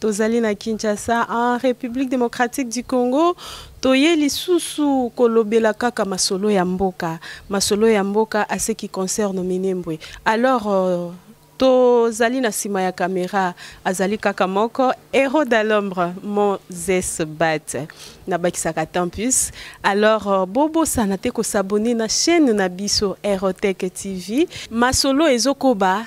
Tozali na Kinshasa en Republique Democratique du Congo toye lisusu kolobela kaka masolo ya mboka masolo ya mboka à ce qui concerne Minembwe alors euh, tozali na nsima ya kamera azali kaka moko héros de l'ombre moses bat nabakisaka tempus alors euh, bobosana te kosabone na chaîne na biso aerotech tv masolo ezokoba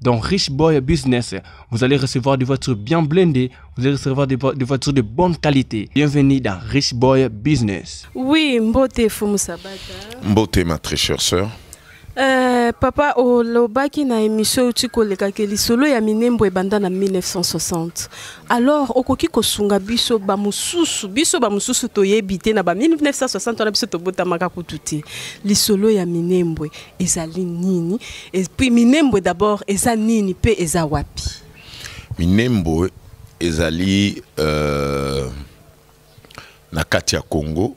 dans Rich Boy Business. Vous allez recevoir des voitures bien blindées, vous allez recevoir des, vo des voitures de bonne qualité. Bienvenue dans Rich Boy Business. Oui, Mbote Fumu Sabata. Mbote, ma très chère sœur. Euh, papa olobaki na émission outi koleka ke lisolo ya minembo ebanda na 1960 alors okoki kosunga biso bamosusu biso bamosusu toyebi te na ba 1960 wana biso tobotamaka kutu te lisolo ya minembwe ezali nini et puis minembwe d'abord eza nini pe eza wapi minembwe ezali euh, na kati ya congo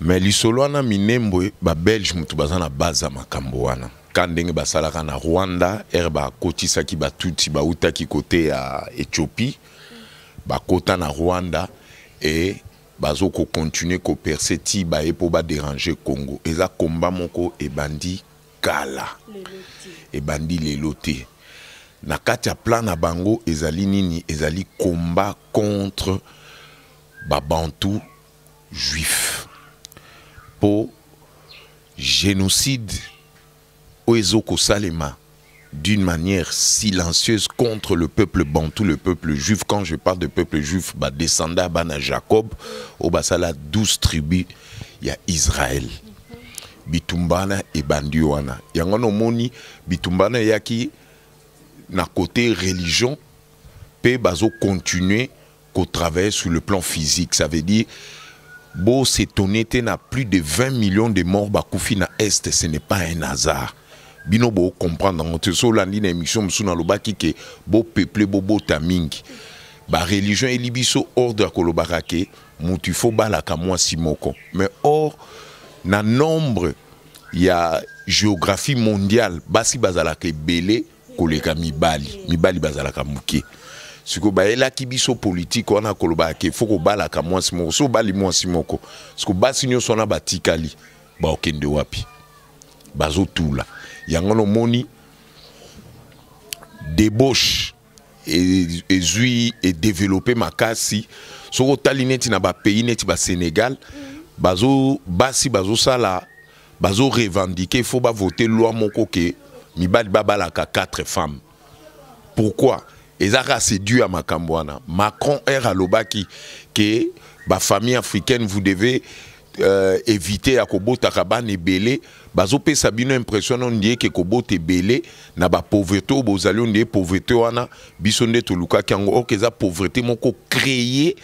mais lisolo wana minembwe babelge moto baza na baza makambo wana ka ndenge basalaka na rwanda ere bakotisaki batuti bautaki kote ya ethiopie bakota na rwanda e Bazo ko continuer ko percer ti baye po ba deranger Congo. Eza combat moko ebandi kala. Ebandi lelo te. Na kati ya plan na bango ezali nini? Ezali combat contre ba Bantous juifs. Po genocide oyo ezo kosalema d'une manière silencieuse contre le peuple bantou, le peuple juif. Quand je parle de peuple juif, bah, descendant bana Jacob, au basala 12 tribus, il y a Israël. Bitumbana et Bandiwana. Yangono moni, Bitumbana yaki na côté religion, pe bazo continuer ko travailler sur le plan physique ça veut dire bo s'étonner te na plus de 20 millions de morts bakufi na est ce n'est pas un hasard bino bo comprendre yango te so olandi na émission mosusu nalobaki ke bopeuple bobota mingi bareligion eli biso ordre ya kolobaka ke motu ifo balaka mwasi moko mais or na nombre ya géographie mondiale basi bazalaka ebele koleka mibali mibali bazalaka moke siko bayelaki biso politike wana kolobaka ke fo kobalaka mwasi moko so obali mwasi moko siko basi nyonso wana batikali baokende wapi bazotula yango wana omoni debauche e, ezwi edevelope makasi soki otali neti na bapays neti basenegal bazo basi bazosala bazo revendiquer il faut ba voter loi moko ke mibali babalaka 4 femmes pourquoi ezaka c'est dû à makambo wana macron er alobaki ke bafamille africaine vous devez euh, éviter ya kobotaka bana ebele bazopesa bino impression no ndie ke kobota ebele na bapauvreté oyo bozali o ndie pauvreté wana biso nde tolukaki yango orke eza pauvreté moko créer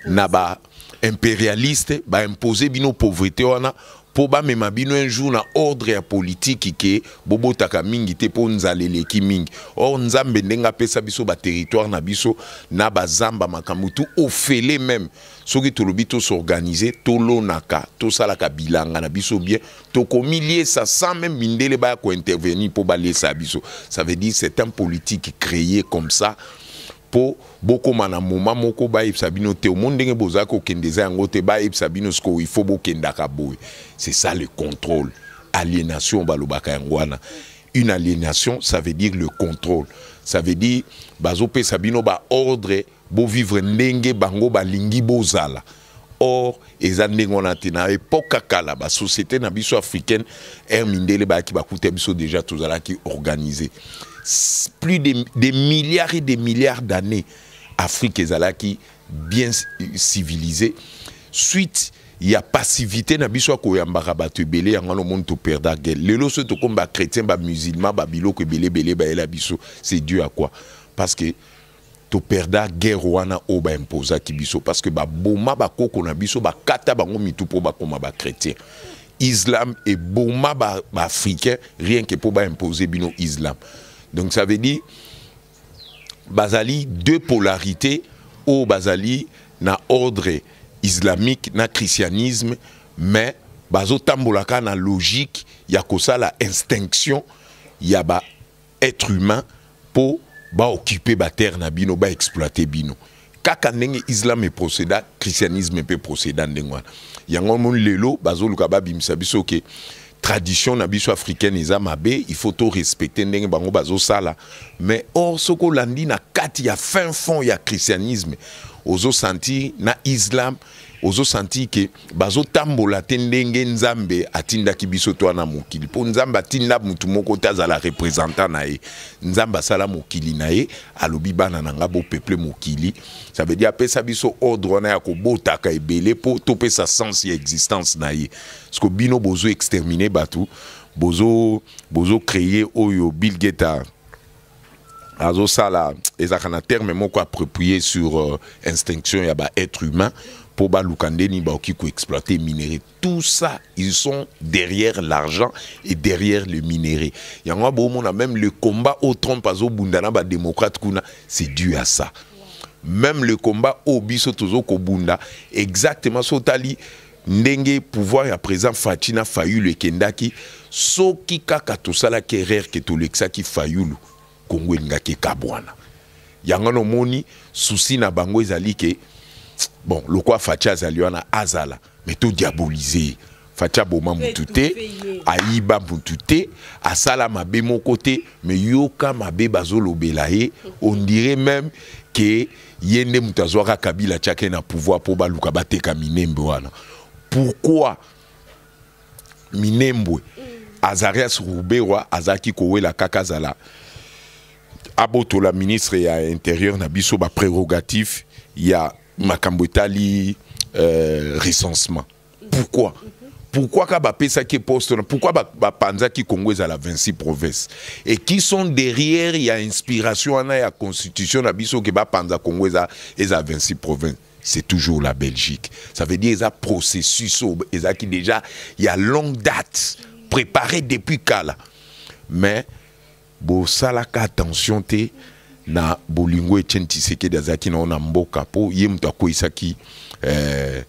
na ba imperialiste ba imposer bino pauvreté wana po bamema bino un jour na ordre ya politiki ke bobotaka mingi te mpo nzala eleki mingi or nzambe ndenge apesa biso baterritoire na biso na bazamba makambo tu ofele meme soki tolobi tosorganize tolonaka tosalaka bilanga na biso bien tokomiliesa sans meme mindele baya kointervenir mpo baliesa biso ça veut dire c'est un politique créé comme ça po bokoma na moment moko bayebisa bino te omoni ndenge bozali kokende eza yango te bayebisa bino sikoyo il faut bokendaka boye c'est ça le contrôle aliénation balobaka yango wana une aliénation ça veut dire le contrôle ça veut dire bazopesa bino baordre bovivre ndenge bango balingi bozala Or, eza ndenge wana te na epoque ya kala ba société na biso africaine air mindele bayaki bakuta biso déjà tozalaki organisé plus de des milliards et des milliards d'années Afrique ezalaki bien civilisée suite ya passivité na biso ya koyambaka bato ebele yango wana omoni toperda guele lelo soki tokomi bachrétien bamusulman babiloko ebele ebele bayela biso c'est dieu ya quoi parce que to perda guerre wana oyo ba imposaki biso parce que baboma bakoko na biso bakata bango mitu mpo bakoma bachrétien islam eboma baafricain ba rien que mpo baimpose bino islam donc ça veut dire bazali deux polarités oyo bazali na ordre islamique na christianisme mais bazotambolaka na logique ya kosala instinction ya ba etre humain po ba occuper ba terre na bino ba exploiter bino kaka ndenge islam eproceda christianisme mpe proceda ndenge wana yango moni lelo bazoluka babimisa biso ke tradition na biso africaine eza mabe il faut torespecte ndenge bango bazosala mais or soki olandi na kati ya fin fond ya christianisme ozosentir na islam ozosentir ke bazotambola te ndenge nzambe atindaki biso to na mokili mpo nzambe atinda motu moko te azala representant na ye nzambe asala mokili na ye alobi bana na ngai bopeple mokili ça veut dire apesa biso ordre wana ya kobotaka ebele mpo topesa sens ya existence na ye parceke bino bozo extermine bato bozo bozo créer oyo bill gates azosala ezalaka na terme moko approprié sur euh, instinction ya ba être humain mpo baluka nde nini bakoki koexploite minerai tout ça ils sont derrière l'argent et derrière le minerai yango ya boomona même le combat oyo trump azobunda na badémocrate kuna c'est dû à ça même le combat oyo biso tozokobunda exactement so otali ndenge pouvoir ya président Fatshi na Fayulu ekendaki soki kaka tosalaki erreur ke tolekisaki Fayulu Kongo elingaki ekabwana yango wana omoni souci na bango ezali ke bon lokwa Fatshi azali wana azala mais to diaboliser ye Fatshi aboma mutu te ayiba mutu te asala mabe moko te mais yoka mabe bazolobela ye on dirait même ke ye nde moto azwaka kabila atiaka ye na pouvoir mpo baluka bateka minembwe wana pourquoi minembwe azarias ruberwa azalaki kowela kaka azala abotola ministre ya interieur na biso baprerogative ya makambo etali euh, recensement pourquoi pourquoi ka bapesaki poste wana pourquoi bapanzaki ba congo ezala 26 province et qui sont derrière ya inspiration wana ya constitution na biso ke bapanza congo eza, eza 26 province c'est toujours la belgique ça veut dire eza processus oyo ezalaki déjà ya longue date préparé depuis kala mais bosalaka attention te na bolingo Etienne Tshisekedi azalaki na ona mboka po ye moto akweisaki eh,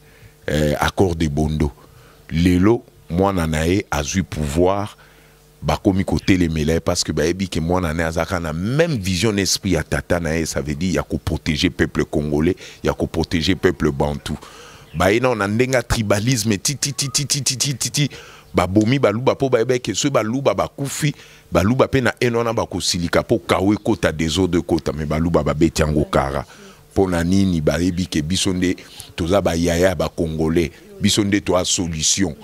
eh, accord de Bondo lelo mwana na ye azui pouvoir bakomi kotelemela ye parce que bayebi ke mwana na ye azalaka na même vision na esprit ya tata na ye ça veut dire ya koprotéger peuple congolais ya koprotéger peuple bantou baye nao na ndenge ya tribalisme titititititititi babomi baluba mpo bayebaki ke soki baluba bakufi Baluba pe na haine wana bakosilika po kawo ekota desordre ekota me baluba babeti yango kara mpo na nini bayebi ke biso nde toza bayaya ya bakongolais biso nde toa solution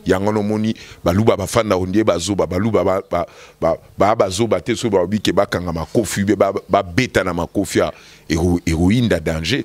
yango nomoni baluba bafanda ondie bazoba baluba baa ba, ba, ba, bazoba te soki baobi ke bakanga makofi be babeta ba na makofi heroine da danger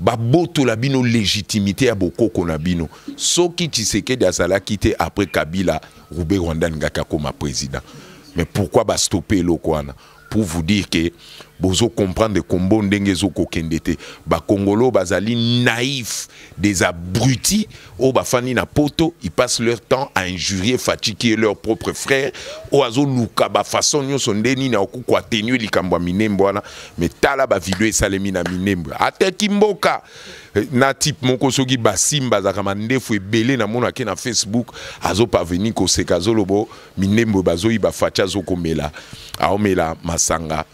babotola bino legitimite ya bokoko na bino soki tshisekedi azalaki te après kabila rube rwandan ngaki akoma président mais pourquoi bastope eloko wana pour vous dire que bozo comprendre kombo ndenge ezokokende te bakongolo bazali naïf des abrutis oyo bafandi na poto ils passent leur temps à injurier Fatshi qui est leur propre frère oyo azoluka bafaçon nyonso nde nini akoki koatenue likambo ya minembo wana mais tala bavideo esalemi na minembo ateki mboka eh, na type moko soki basimba azalaka mandefu ebele namonake na facebook azoparvenir koseka azolobo minembo bazoyiba Fatshi azokomela aomela masanga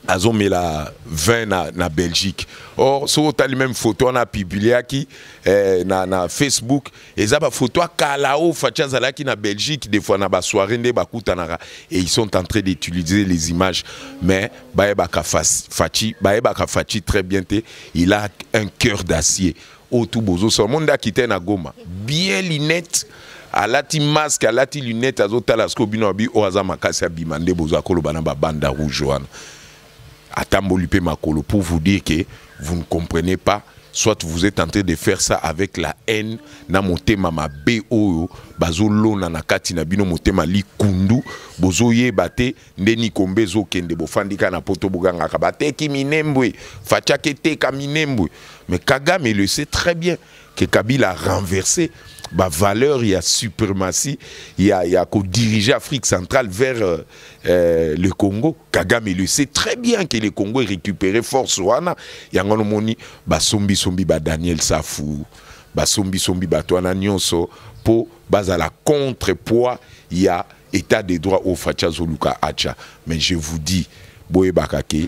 azomela vin na, na belgique or soki otali meme photo wana apubliaki eh, na, na facebook eza bafoto ya kala oyo faci azalaki na belgique des fois na basoirée nde bakutanaka et ils sont en train d'utiliser les images mais bayebaka faci bayebaka faci très bien te il a un cœur d'acier oyo tu bozosala mo nde akita ye na goma bien linete alati masque alati lunette azotala sikoyo bino abi oyo aza makasi abima nde boza koloba na babanda rouge wana atamboli mpe makolo pour vous dire que vous ne comprenez pas soit vous êtes en train de faire ça avec la haine na motema mabe oyo bazolona na kati na bino motema likundu bozoyeba te nde nikombe ezokende bofandi kaka na poto bogangaka bateki minembwe fatiaki eteka minembwe mais kagame le sait très bien que kabila renverse bavaleur ya suprématie ya, ya kodirige afrique centrale vers euh, euh, le congo kagame le sait très bien que le congo erécupéré force wana yango wana omoni basombisombi ba daniel safu basombisombi bato wana nyonso mpo bazala contrepoids ya etat de droit oyo faci azoluka acha mais je vous dis boyebaka ke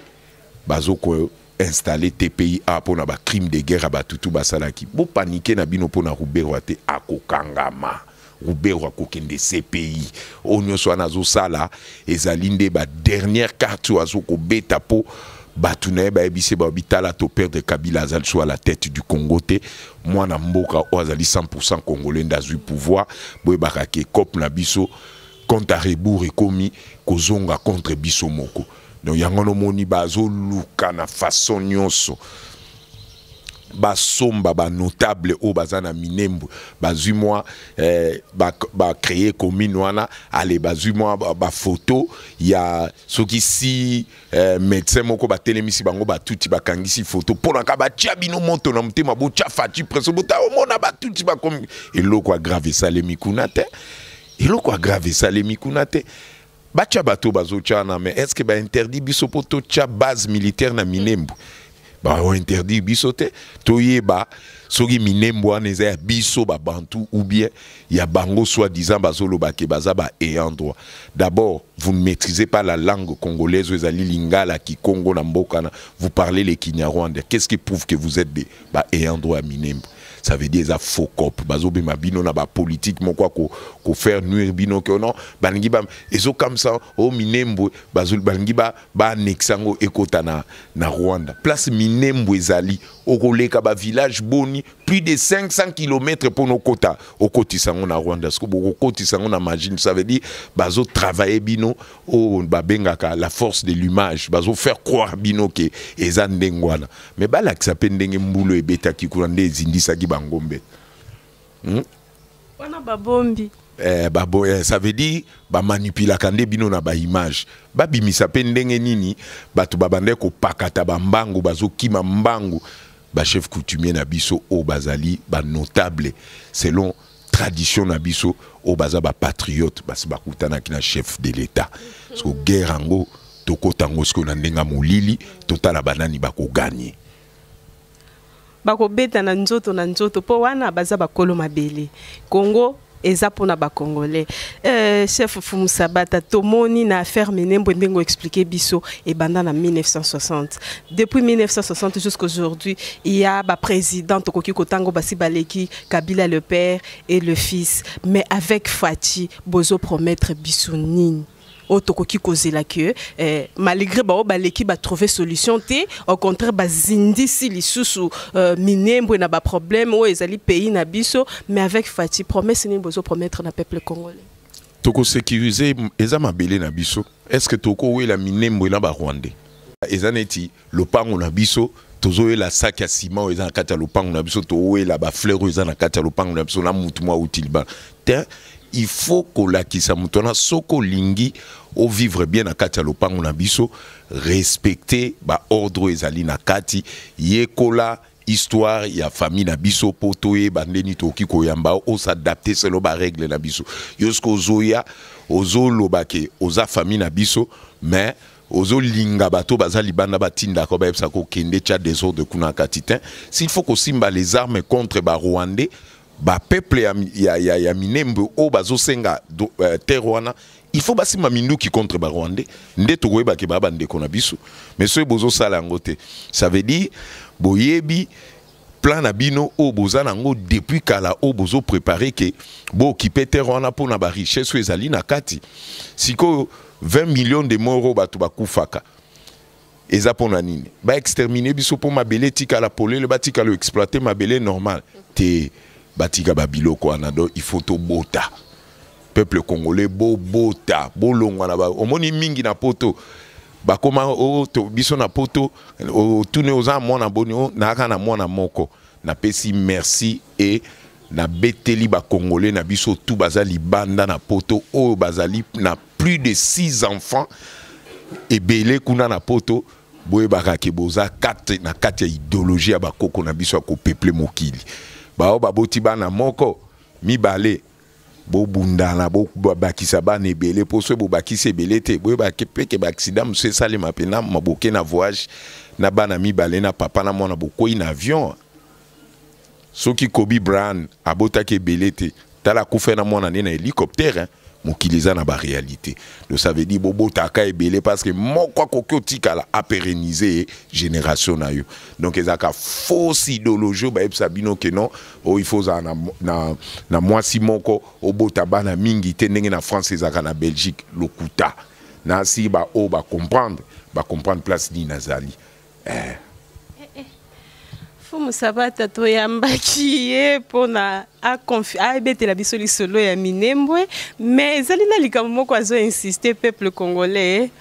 bazo ko installe tpi a mpo na bacrime de guerre ya batutu basalaki bopanike na bino mpo na ruberwa te akokangama ruberwa akokende cpi oyo nyonso wana azosala ezali nde badernière carte oyo azokobeta mpo bato na ye bayebisi baobi tala toperdre kabila azali so a la tête du congo te mwana mboka oyo azali 100% congolais nde azwi pouvoir boyebaka ke cope na biso compte à rebours ekomi kozonga contre biso moko donc yango wana omoni bazoluka na façon nyonso basomba banotable oyo baza na minembwe bazwi mwa eh, bacreye ba commune wana ale bazwi mwa bafoto ba ya soki si eh, medecin moko batelemisi bango batuti bakangisi foto mpo naka batya bino moto na motema botya faci preso bota omona batuti bakomi eloko ya grave esalemi kuna te eloko ya grave esalemi kuna te batya bato bazotya na mais est ce que bainterdit biso mpo totya base militaire na minembu mm. Baho interdire biso te toyeba soki minembo wana eza ya biso babantu ou bien ya bango soit disant bazoloba ke baza ba ayant droit d'abord vous ne maîtrisez pas la langue congolaise ezali lingala kikongo na mboka na vous parlez le kinyarwanda qu'est-ce qui prouve que vous êtes des ba ayant droit ya minembo ça veut dire eza faux cop bazobima bino na bapolitique moko ya kofaire nuire bino ke non balingi ba ezokamisa o oh, minembo balingi ba annexe yango ekota na, na rwanda place minembwe ezali okoleka bavillage boni plus de 500 km mpo nokota okotisa yango na rwanda siko bokokotisa yango na magine ça veut dire bazotravaille bino oyo babengaka la force de l'image bazofaire croire bino ke eza ndenge wana mais balakisa mpe ndenge mbulu ebetaki kuna nde ezindisaki bangombe hmm? wana babombi eh, babo, eh, ça veut dire bamanipulaka nde bino na baimage babimisa mpe ndenge nini bato babandaki kopakata bambangu bazokima mbangu bachef coutumier na biso oyo bazali banotable selon tradition na biso oyo baza bapatriote basi bakutanaki na chef de l'état soko guerre yango tokota yango sikoyo na ndenge ya molili totala banani bakoganye bakobeta na nzoto na nzoto mpo wana baza bakolo mabele congo eza mpona bacongolais euh, chef fumu sabata tomoni na affaire minembwe ndenge oexplike biso ebanda na 1960 depuis 1960 jusqu'aujourd'hui ya baprésident tokoki kotango basi baleki kabila le père et le fils mais avec faci bozo promettre biso nini oyo tokoki kozela que eh, malgré baoyo baleki batrouve solution te au contraire bazindisi lisusu euh, minembwe na baproblème oyo ezali pays na biso mais avec fati promesse nini bozopromettre na peuple congolais tokosécurise eza mabele na biso est ce que tokowela minembwe na barwandais eza neti lopango na biso tozoyela saki ya sima oyo eza na kati ya lopango na biso towela bafleur oyo eza na kati ya lopango na biso na mutu mwa auti libala te il faut kolakisa moto wana soki olingi ovivre bien na kati ya lopango na biso respecte baordre oyo ezali na kati yekola histoire ya famille na biso mpo toyeba nde nini tokoki koyamba osadapte selo baregle na biso yo soki ozoya ozoloba ke oza famille na biso mais ozo linga bato baza libanda batinda ko bayebisa ko kende tya desordre kuna kati te s'il faut kosimba les armes contre ba rwandais ba peuple ya, ya, ya, ya minembe oyo bazosenga uh, eh, terre wana il faut basimba minduki contre ba rwandais nde tokoyeba ke baa bandeko na biso mais soki bozosala yango te ça veut dire boyebi plan na bino oyo boza nango depuis kala oyo bozo prepare ke bookipe terre wana mpo na barichesse oyo ezali na kati sikoyo 20 million de mort oyo bato bakufaka eza mpo na nini baextermine biso mpo mabele etikala polele batikala oexploite mabele normal te batika babiloko wana do il faut tobota peuple congolais bobota bolongwa na ba omoni mingi na poto bakoma oh, to, biso na poto otuni oza mwana boni oh, nayaka na mwana moko napesi merci e nabeteli bakongole na biso tu baza libanda na poto oyo bazali na plus de six enfants ebele kuna na poto boyebaka ke boza kati na kati ya ideologie ya bakoko na biso ya kopeple mokili baoyo baboti bana moko mibale bobundana bobakisa bana ebele mpo soki bobakisi ebele te boyeba peke baaksida mosusu esalema mpe na maboke na voyage na bana mibale na papa na mwana bokwei na avion soki kobi brian abotaki ebele te tala akufa na mwana nde na hélicoptère mokili eza na baréalité donc ça veut dire bobotaka ebele parce que moko akoki otikala apérenise génération na yo donc ezalaka fausse idéologie oyo bayebisa bino ke non oyo il faut ozala na, na, na mwasi moko obota bana mingi te ndenge na france ezalaka na belgique lokuta nasi baoyo bacomprendre bacomprendre place nini nazali eh. fumu sabata toyambaki ye mpona abetela biso lisolo ya minembwe mais ezali na likambo moko azo insiste peuple congolais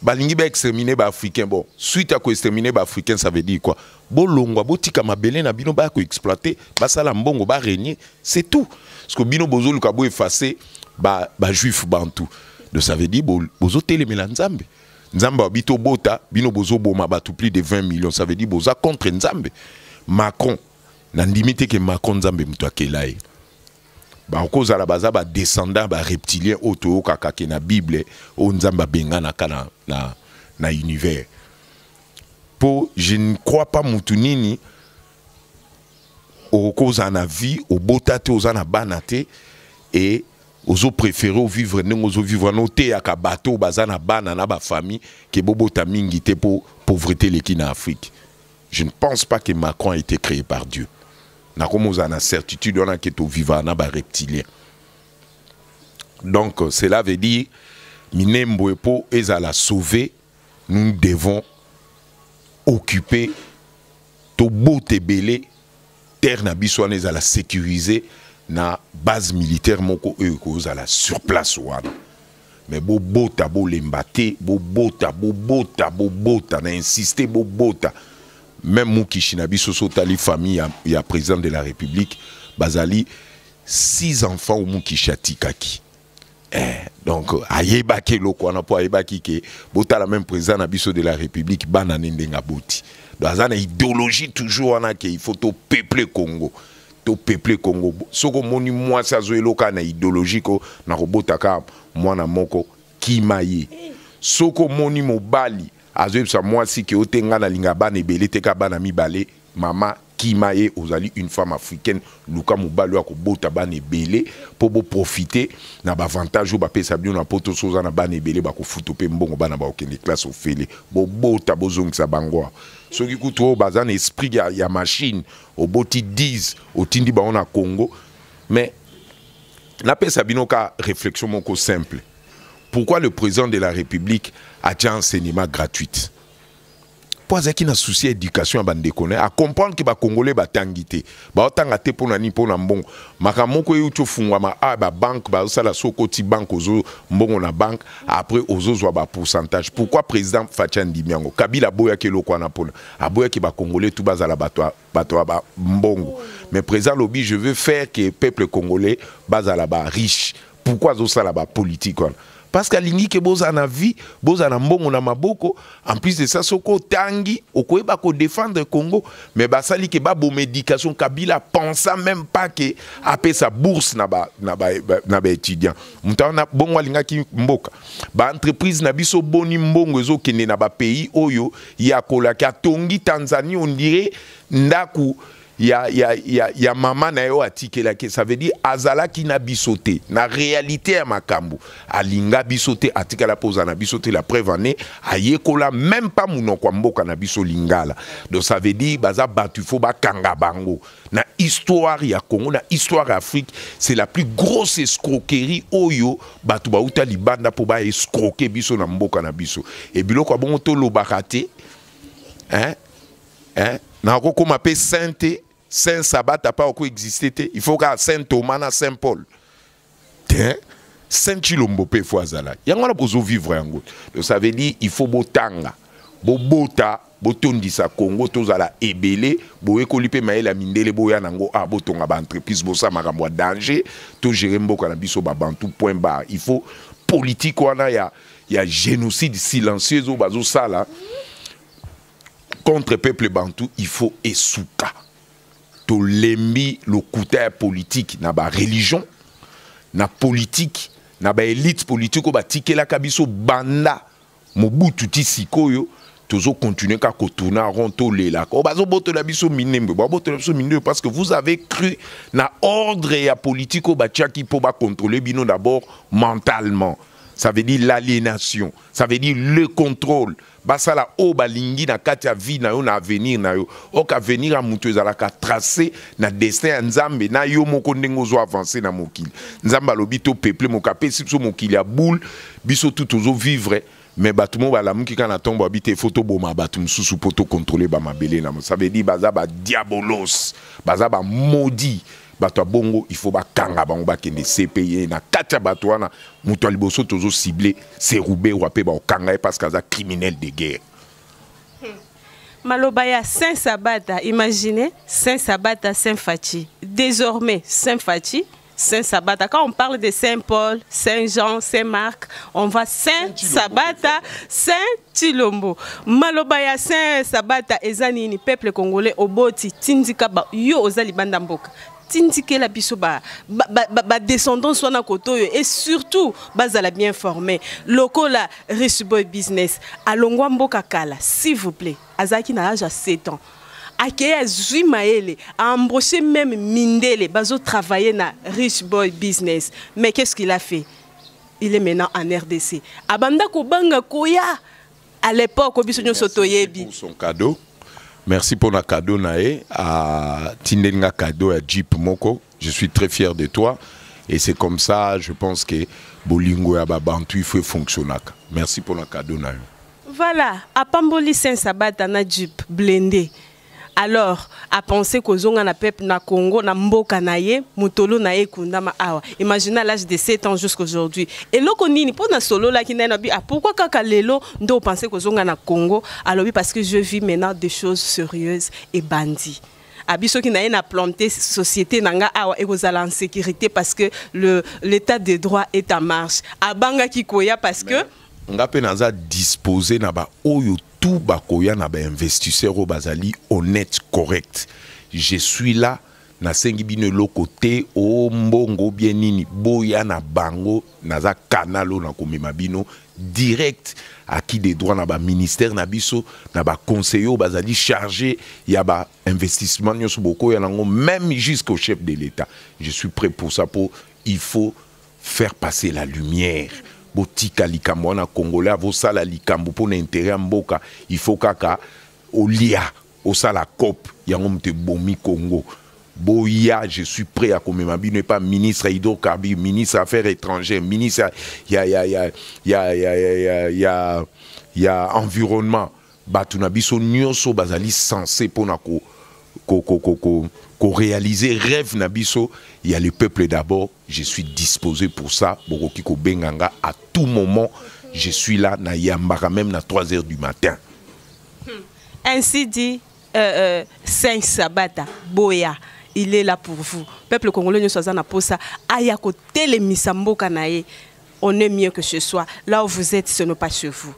balingi ba exterminer ba africains bon suite à ko exterminer ba africains ça veut dire quoi bolongwa botika mabele na bino baya ko exploiter basala mbongo ba régner c'est tout parce que bino bozoluka bo effacer ba ba juif bantu donc ça veut dire bozotelemela nzambe nzambe abi tobota bino bozoboma bato plus de 20 millions ça veut dire boza contre nzambe macron nandimi te ke macron nzambe moto akela ye bakozala baza badescendant bareptilien oyo toyokaka ke na bible oyo nzambe abenganaka na, na, na univers mpo je ne crois pas motu nini okozala na vie obota te oza na bana te e ozo préféré ovivre ndenge ozovivre wana oteyaka bato oyo baza na bana na bafamille ke bobota mingi te mpo pauvreté eleki na afrique Je ne pense pas que Macron a été créé par Dieu. Nakomo a une certitude on a que to vivant na ba reptilien. Donc cela veut dire Minembo epo ezala sauver, nous devons occuper to bote belé terre na biso wana ezala sécurisée na base militaire moko oyo ekozala sur place wana mais bobota bolemba te bobota bobota bobota na insiste bobota même mukishi na biso so otali famille ya, ya président de la république bazali six enfants oyo mukishi atikaki eh, donc ayebaki eloko wana mpo ayebaki ke botala même président na biso de la république bana ne ndenge aboti donc aza na idéologie toujours wana ke il faut topeple congo to peuple Congo soko moni mwasi azoyeloka na idéologie ko na kobota ka mwana moko kima ye soko moni mobali azoyebisa mwasi ke ote nga na linga bana ebele te ka bana mibale mama kima ye ozali une femme africaine luka mobali oyo akobota bana ebele mpo boprofite na baavantage oyo bapesa bino na poto so oza na bana ebele bakofuta mpe mbongo bana bakokende classe ofele bobota bozongisa bango soki kutu oyo baza na esprit ya, ya machine oboti 10 otindi bango na congo mais napesa bino ka réflexion moko simple pourquoi le président de la république atya enseignement gratuite mpo azalaki na souci ya éducation ya bandeko na ye acomprendre ke bacongolais batangi te baotanga te mpo na nini mpo na mbongo makambo moko euti ofungwama a ah, babanke bazosala so okoti banke ozo mbongo na banke après ozozwa bapourcentage pourquoi président faci andimi yango kabila aboyaki eloko wana mpona aboyaki ba congolais tout bazala bato bato ya ba mbongo mais président lobi je veux faire que peuple congolais bazala ba riche pourquoi azosala ba politique wana parce que alingi ke bozala na vie bozala na mbongo na maboko en plus de ça soki otangi okoyeba kodefendre congo mais basali ke baboma éducation kabila pensa même pas ke apesa bourse na baétudiant moto wana bongo alingaki mboka baentreprise na biso boni mbongo ezokende na bapays oyo ya kolaki atongi tanzanie ondire ndako ya, ya, ya, ya mama na yo atikelaki ça veut dire azalaki na biso te na réalité ya makambo alinga biso te atikala mpo oza na biso te la preuve année ayekola même pas monoko ya mboka na biso lingala donc ça veut dire baza bato ifo bakanga bango na histoire ya Congo na histoire ya Afrique c'est la plus grosse escroquerie oyo bato bauta libanda mpo ba escroquer biso na mboka na biso e biloko ya bongo tolobaka te hein? hein? nakokoma mpe saint te saint sabata mpe akoexiste te il faut kaka saint thomas na saint paul te saint chilombo mpe fo azala yango wana bozovivre yango donc ça veut dire il faut botanga bobota botondisa congo tozala ebele boyekoli mpe mayele ya mindele boya na yango a ah, botonga baentreprise bosala makambo ya danger togere mboka na biso babantu point bar il faut politike wana ya, ya génocide silencieuse oyo bazosala contre peuple bantu il faut esuka tolembi lokuta ya politiki na ba religion na politiki na ba elite politiki oyo batikelaka biso banda mobutu ti sikoyo tozo continuer ka kotuna rond tolelaka oyo bazobotola biso minembwe babotola biso minembwe parce que vous avez cru na ordre ya politiki oyo batiaki mpo bakontrole bino d'abord mentalement ça veut dire l'aliénation ça veut dire le contrôle basala oyo balingi na kati ya vie na yo na avenir na yo ok avenir ya moto ezalaka trace na destin ya nzambe na yo moko ndenge ozo avance na mokili nzambe alobi to peuple moko apesi biso mokili ya boule biso tu tozo vivre mais bato moko balamuki kaka na ntongo babi te ifo toboma bato mosusu mpo tokontrole bamabele na mo ça veut dire baza badiabolos baza bamodi bato ya bongo il faut bakanga bango bakende cpe na kati ya bato wana moto ya liboso tozo cible se ruberwa mpe bakokanga ye parce que aza criminel de guerre hmm. maloba ya saint sabata imagine saint sabata saint faci désormais saint faci Saint Sabata. Quand on parle de Saint Paul, Saint Jean, Saint Marc, on va Saint Sabata, Saint Chilombo maloba ya Saint Sabata eza nini peuple congolais oboti tindika ba yo oza libanda mboka tindikela biso ba, ba, ba, ba, ba descendance wana kote oyo et surtout bazala bien formé lokola rich boy business alongwa mboka kala s'il vous plaît azalaki na age ya 7 ans akei azwi mayele aembauche meme mindele bazotravaille na rich boy business mais qu'est ce qu'il a fait il est maintenant en rdc abanda kobanga koya à l'époque biso nyonso toyebi son cadeau merci pour na cadeau na ye atindeli nga cadeau ya jeep moko je suis très fier de toi et c'est comme ça je pense que bolingo ya babantu il faut efonctionnaka merci pour na cadeau na yo voilà apamboli saint sabata na jeep blende alors a penser kozonga na peuple na Congo na mboka na ye mutolo na ye kundama awa imagine à l'âge de 7 ans jusqu'aujourd'hui eloko nini pona solo la ki nabi ah pourquoi kaka lelo ndo penser kozonga na Congo alobi parce que je vis maintenant des choses sérieuses et bandit abi soki naye na planter société na nga awa ekozala en sécurité parce que le l'état de droit est en marche abangaki koya parce que ben. nga mpe naza dispose na baoyo tout bakoya na ba investisseurs oyo bazali honnête correct je suis là nasengi bino eloko te o mbongo bien nini boya na bango naza kanalo na komema bino direct acquis des droits na baministère na biso na baconseiller oyo bazali chargé ya bainvestissement nyonso bokoya nango même jusqu'au chef de l'état je suis prêt pour ça mpo il faut faire passer la lumière botika likambo wana congolais avosala likambo mpo na intere ya mboka il faut kaka olia osala cope yango moto ebomi congo boya je suis prêt ya komema bino epa ministre ya hydrocarbure ministre ya affaires étrangères ministre ya, ya, ya, ya, ya, ya, ya, ya, ya environnement Bato na biso nyoso bazali sense mpo na ko, ko, ko, ko, ko, ko réaliser rêve na biso ya le peuple d'abord. Je suis disposé pour ça. Bokoki kobenga nga à tout moment. Je suis là na yambaka même na 3 heures du matin. Hmm. Ainsi dit euh, euh, Saint Sabata Boya. il est là pour vous peuple congolais nyonso aza na posa aya kotelemisa mboka na ye on est mieux que ce soit là où vous êtes ce n'est pas chez vous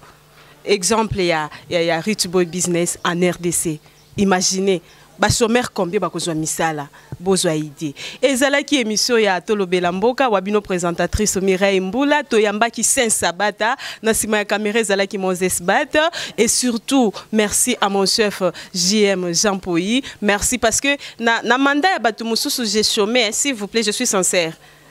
exemple ya, ya, ya Rich Boy Business en RDC. Imaginez basomere combien bakozwa misala bozwa idée ezalaki émission ya tolobela mboka wa bino présentatrice mireille mbula toyambaki saint sabata na nsima ya kamera ezalaki moses bat et surtout merci à mon chef jm jean poi merci parce que na, na mandat ya bato mosusu j'ai chômé s'il vous plaît je suis sincère